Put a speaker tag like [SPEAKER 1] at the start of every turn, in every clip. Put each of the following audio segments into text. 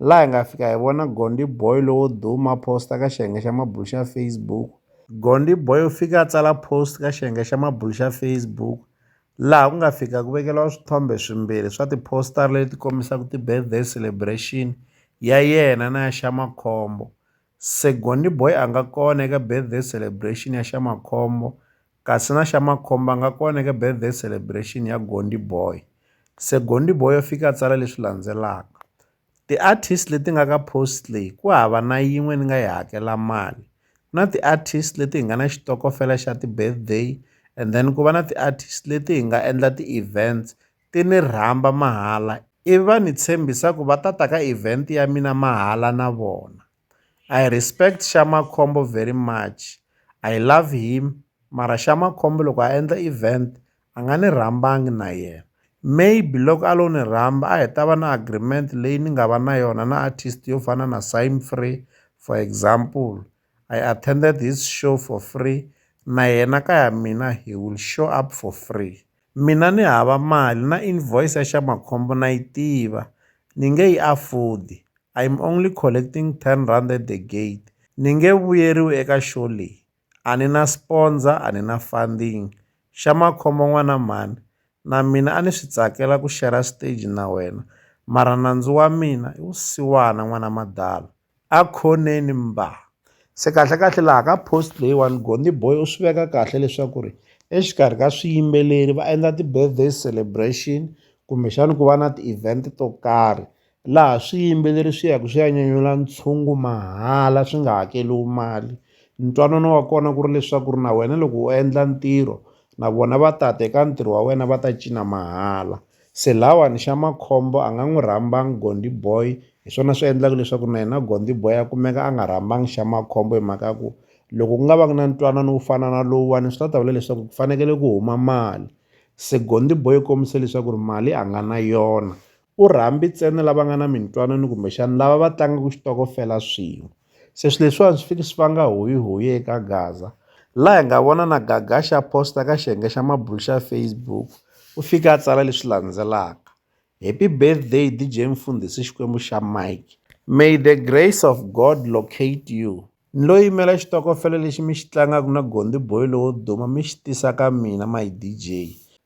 [SPEAKER 1] laha hi nga fika hi vona Gondy Boy lowo duma a post ka xiyenge xa mabulo xa Facebook. Gondy Boy u fike a tsala post ka xiyenge xa mabulo xa Facebook laha ku nga fika ku vekeriwa swithombe swimbirhi swa ti-poster leti kombisaka ti-birthday celebration ya yena na ya Shamakhombo. Se Gondi Boy a nga kona eka birthday celebration ya Xamakhombo kasi na Xamakhombo a nga kona eka birthday celebration ya Gondi Boy. Se Gondi Boy u fike a tsala leswi landzelaka, Ti-artist leti nga ka post leyi ku hava na yin'we ni nga yi hakela mali. Ku na ti-artist leti hi nga na xitokofela xa ti-birthday and then ku va na ti-artist leti hi nga endla ti-events. ti ni rhamba mahala ivi va ni tshembisa ku va ta ta ka event ya mina mahala na vona. I respect Sha Makhombo very much, I love him mara Sha Makhombo loko a endla event a nga ni rhambangi na yena. Maybe loko a lo ni rhamba a hi ta va na agreement leyi ni nga va na yona na artist yo fana na Symfree for example I attended his show for free na yena ka ya mina he will show up for free. Mina ni hava mali na invoice ya Xamakhombo na yi tiva ni nge yi afford. I'm only collecting 10 rand at the gate. Ni nge vuyeriwi eka show leyi. A ni na sponsor, a ni na funding. Xamakhombo n'wana mhani, na mina a ni swi tsakela ku share-ra stage na wena mara nandzu wa mina i wusiwana n'wana madalo. A khoneni mba se kahlekahle laha ka post leyiwani Gondhi boy u swi veka kahle leswaku ri exikarhi ka swiyimbeleri va endla ti-birthday celebration kumbexani ku va na ti-event to karhi laha swiyimbeleri swi yaka swi ya nyanyula ntshungu mahala swi nga hakeliwi mali ntwanano wa kona ku ri leswaku ri na wena loko u endla ntirho na vona va ta ta eka ntirho wa wena va ta cina mahala. Se lawani xa makhombo a nga n'wi rhambang Gondi boy hi swona swi endlaka leswaku na yena Gondi boy a kumeka a nga rhambang xa makhombo hi mhaka ku loko ku nga va na ntwanano wo fana na lowuwani swi ta ta vula leswaku ku fanekele ku huma mali se Gondi boy u kombise leswaku ri mali a nga na yona u rhambi ntsena lava nga na mintwanano kumbexana lava va tlangaka xitokofela swin'we. Se swilo leswiwani swi fike swi vanga huyihuyi eka Gaza laha hi nga vona na Gaga xa post-a ka xiyenge xa mabulo xa Facebook u fika a tsala leswi landzelaka, happy birthday D_J Mfundhisi Xikwembu xa Mike may the grace of God locate you ni lo yimela xitokofela lexi mi xi tlangaka na Gondhi boy lowo duma mi xi tisa ka mina my D_J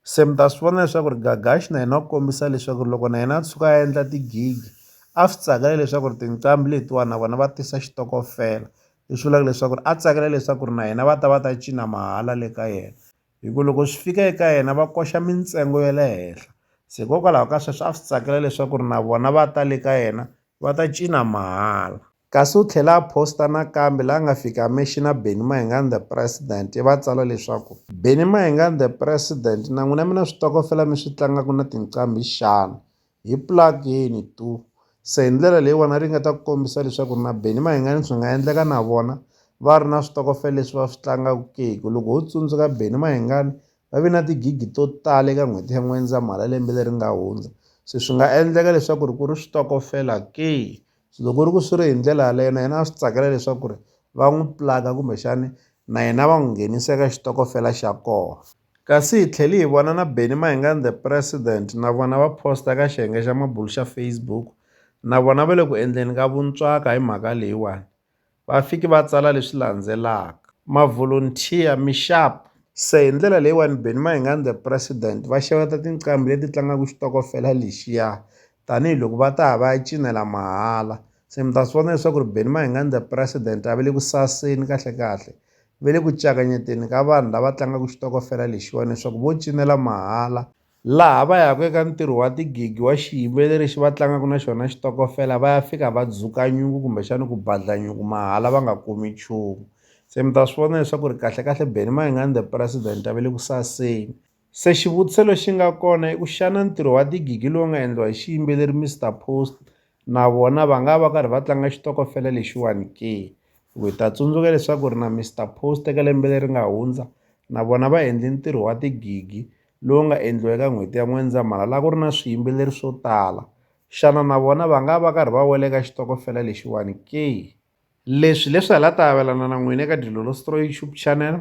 [SPEAKER 1] se mi ta swi vona leswaku ri Gagash na yena u kombisa leswaku ri loko na yena a tshuka a endla ti-gig a swi tsakela leswaku ri tinqambi letiwani na vona va tisa xitokofela leswi vulaka leswaku ri a tsakela leswaku ri na yena va ta va ta cina mahala le ka yena hi ku loko swi fika eka yena va koxa mintsengo ya le henhla se hikokwalaho ka sweswo a swi tsakela leswaku ri na vona va ta le ka yena va ta cina mahala kasi u tlhela a posta nakambe laha nga fika a mexina Benny Mayengani the president i va tsala leswaku Benny Mayengani the president na n'wina mi na switokofela mi swi tlangaka na tinqambi xana hi plug-ini tu se hi ndlela leyiwani ri nga ta ku kombisa leswaku na Benny Mayengani swi nga endleka na vona va ri na switokofela leswi va swi tlangaku ke hi ku loko ho tsundzuka Benny Mayengani va ve na tigigi to tala eka n'hweti ya N'wendzamhala lembe leri nga hundza se swi nga endleka leswaku ri ku ri switokofela ke se loko ri ku swi ri hi ndlela yaleyo na yena a swi tsakela leswaku ri va n'wi plug-a kumbexani na yena va n'wi nghenisa eka xitokofela xa kona. Kasi hi tlhele hi vona na Benny Mayengani The President na vona va posta ka xiyenge xa mabulu xa Facebook na vona va le ku endleni ka vuntswaka hi mhaka leyiwani. Va fiki va tsala leswi landzelaka, Mavolontiya, mi xap! Se hi ndlela leyiwani Benny Mayengani The President va xeweta tinqambi leti tlangaka xitokofela lexiya tanihi loko va ta ya va ya cinela mahala se mi ta swi vona leswaku ri Benny Mayengani the president a va le ku saseni kahlekahle ve le ku cakanyeteni ka vanhu lava tlangaka xitokofela lexiwani leswaku vo cinela mahala laha va yaka eka ntirho wa tigigi wa xiyimbeleri lexi va tlangaka na xona xitokofela va ya fika va dzuka nyuku kumbexani ku badla nyuku mahala va nga kumi nchumu se mi ta swi vona leswaku ri kahlekahle Benny Mayengani the president a va le ku saseni Se xivutiso lexi nga kona i ku xana ntirho wa tigigi lowu nga endliwa hi xiyimbeleri Mister Post na vona va nga va karhi va tlanga xitokofela lexiwani ke hi ku hi ta tsundzuka leswaku ri na Mister Post eka lembe leri nga hundza na vona va endle ntirho wa tigigi lowu nga endliwa eka n'hweti ya N'wendzamhala la ku ri na swiyimbeleri swo tala xana na vona va nga va karhi va wela eka xitokofela lexiwani ke leswi leswi hala ta avelana na n'wina eka Dilolo Stroyi YouTube channel.